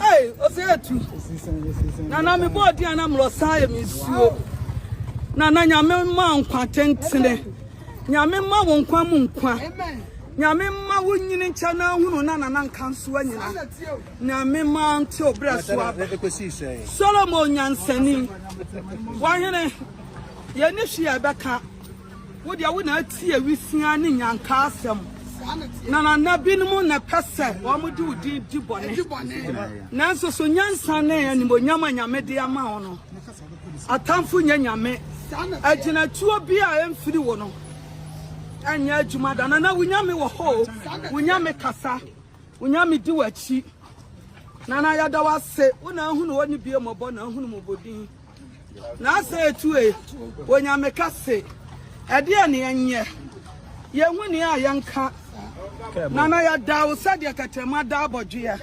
Hey, ose etu. Na na me bo di ana mro sai me suo. Na na nyame ma nkwa tentene. Nyame ma wo nkwa mu nkwa. Nyame ma wo nyini nkyɛ na hunu na nana nka nso anyina. Nyame ma nte obra so aba. Solomon nyansani. Wahene. Ye ni hwe ya bɛka. Wo deɛ wo na ati awisiaa ne nyankaa asɛm. Nanana binom na ɛpɛ sɛ wɔde wo din di bɔne. Nanso so nyansa ne animonyam a Nyame de ama wo no, atamfo nyɛ Nyame. Agyinatuo bi a ɛmfiri wo no ɛnyɛ adwuma da. Nana wo Nyame wɔ hɔ o, wo Nyame kasa, wo Nyame di w'akyi. Nana yɛda wo ase, wo na ahunu hɔ ne bie mmɔbɔ na ahunu mmɔbɔdin. Na asɛ etu e, Onyame ka se, Ɛdeɛn na yɛnyɛ? Yɛnhu nea a yɛnka, na na yɛdaa wo sɛdeɛ tɛtrɛma da abɔdweɛ.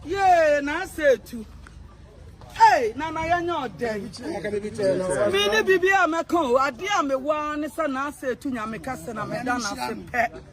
Yee, na asɛ etu e, na na yɛnyɛ ɔdɛn? Mene biribiara a mɛka o, adeɛ a mewɔ ara ne sɛ na asɛ etu Nyame ka se, na meda no ase pɛ.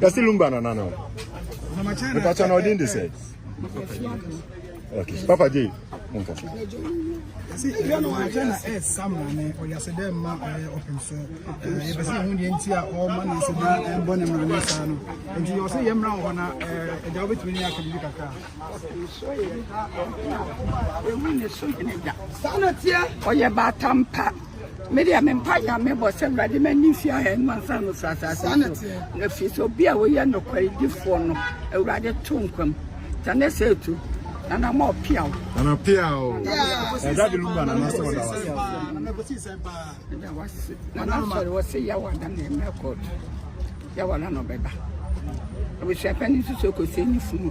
Kasi lumba na nana. Mpa chana odin de sɛ. Okay. Papa J. Nka. Si ya no anka na eh sam na ne o ya se dem ma eh open so. Eh be se hu de nti a o ma na se na eh bo ne mra ne sa no. Nti yo se ye mra ho na eh e da obetumi ne aka bi kakra. Emu ne so ne da. Sa na tie. Oye ba tampa. me deɛ me mpa yɛ me bɔ sɛ awurade ma ni fi ayɛ no ansa no sra asase so na fi so bi a woyɛ nokwaridifoɔ no awurade to nkwam ta ne sɛ tu na na mɔ piaw na na piaw ɛda de lumba na na sɛ ɔda wase ɛda wase na na sɔre wɔ sɛ yawa da na ɛmɛ kɔɔto yawa da na ɔbɛba abusua pɛ ne nso so kɔ sɛ ni funu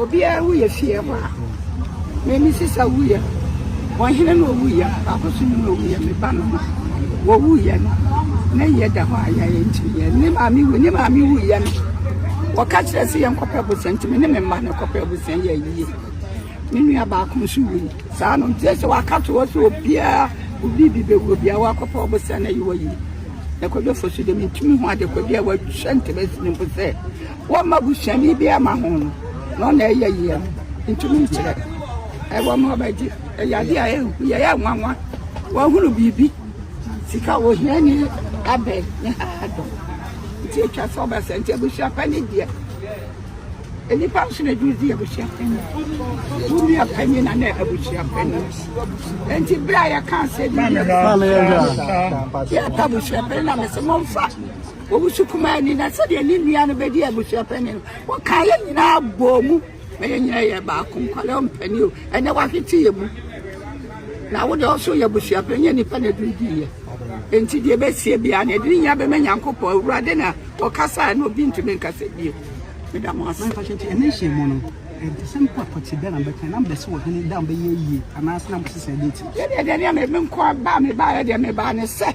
obiara wo yɛ fie hɔ a mɛmi sisa wo yɛ wɔhene na owu yɛ baako so nim na owu yɛ meba no ma wɔwu yɛ no na yɛ da hɔ a yɛyɛ nkyiri yɛ ne maame wu ne maame wu yɛ no wɔka kyerɛ sɛ yɛnkɔpɛ abusua ntumi ne me mma no kɔpɛ abusua yɛ yie Me nua baako nso wui. Saa no nti sɛ waka to hɔ sɛ obiara obi bi bɛwu obiara wakɔpɛ ɔbosea na yi wɔyi. Ɛkɔdɔfo so de mentumi ho ade kɔdi a wɔahyɛ ntabasi no mpo sɛ wɔmma busuani bi ama ho no na ɔna ɛyɛ yie no ntumi nkyerɛ. Ɛwɔ ma ɔbɛgye ɛyɛ ade a ɛhu yɛ yɛ nwanwa wɔahunu biribi sika wɔ hia ni abɛ ne ha dɔ nti atwa sɛ ɔbɛsɛ nti abusua pa ne deɛ Nnipa nso na ɛde di abusua panyin. Wo nua panyin na na abusua panyin. Nti bere a yɛka sɛ bi yɛ yɛka abusua panyin na mesɛ momfa owusu kumaa ni na sɛdeɛ ne nua no bɛdi abusua panyin wɔka yɛ nyinaa bɔɔ mu na yɛ nyinaa yɛ baako nkwalɛ ɔmpani o ɛnɛ wahwete yɛ mu Na wo deɛ, ɔsoro yɛ abusua pɛ, ɛnyɛ nnipa na ɛduru dii yɛ. Enti deɛ ɛbɛsie biara no, ɛde ne nyinaa bɛma Nyankopɔn. Awurade na ɔkasaɛ, na obi ntumi nkasa bio. Meda mo ase. Mepa kyɛw, nti ɛnnɛ nhyiamu no, ɛdesɛm pa pɔtee bɛn na mobɛkae? Na mobɛse ɔhene, dɛn a ɔbɛyɛ yie, anaase na mobɛse sɛɛ, dɛn nti? Yɛdeɛ, deɛ ɛne me nkoa baa, mebaeɛ deɛ mebaa ne sɛ.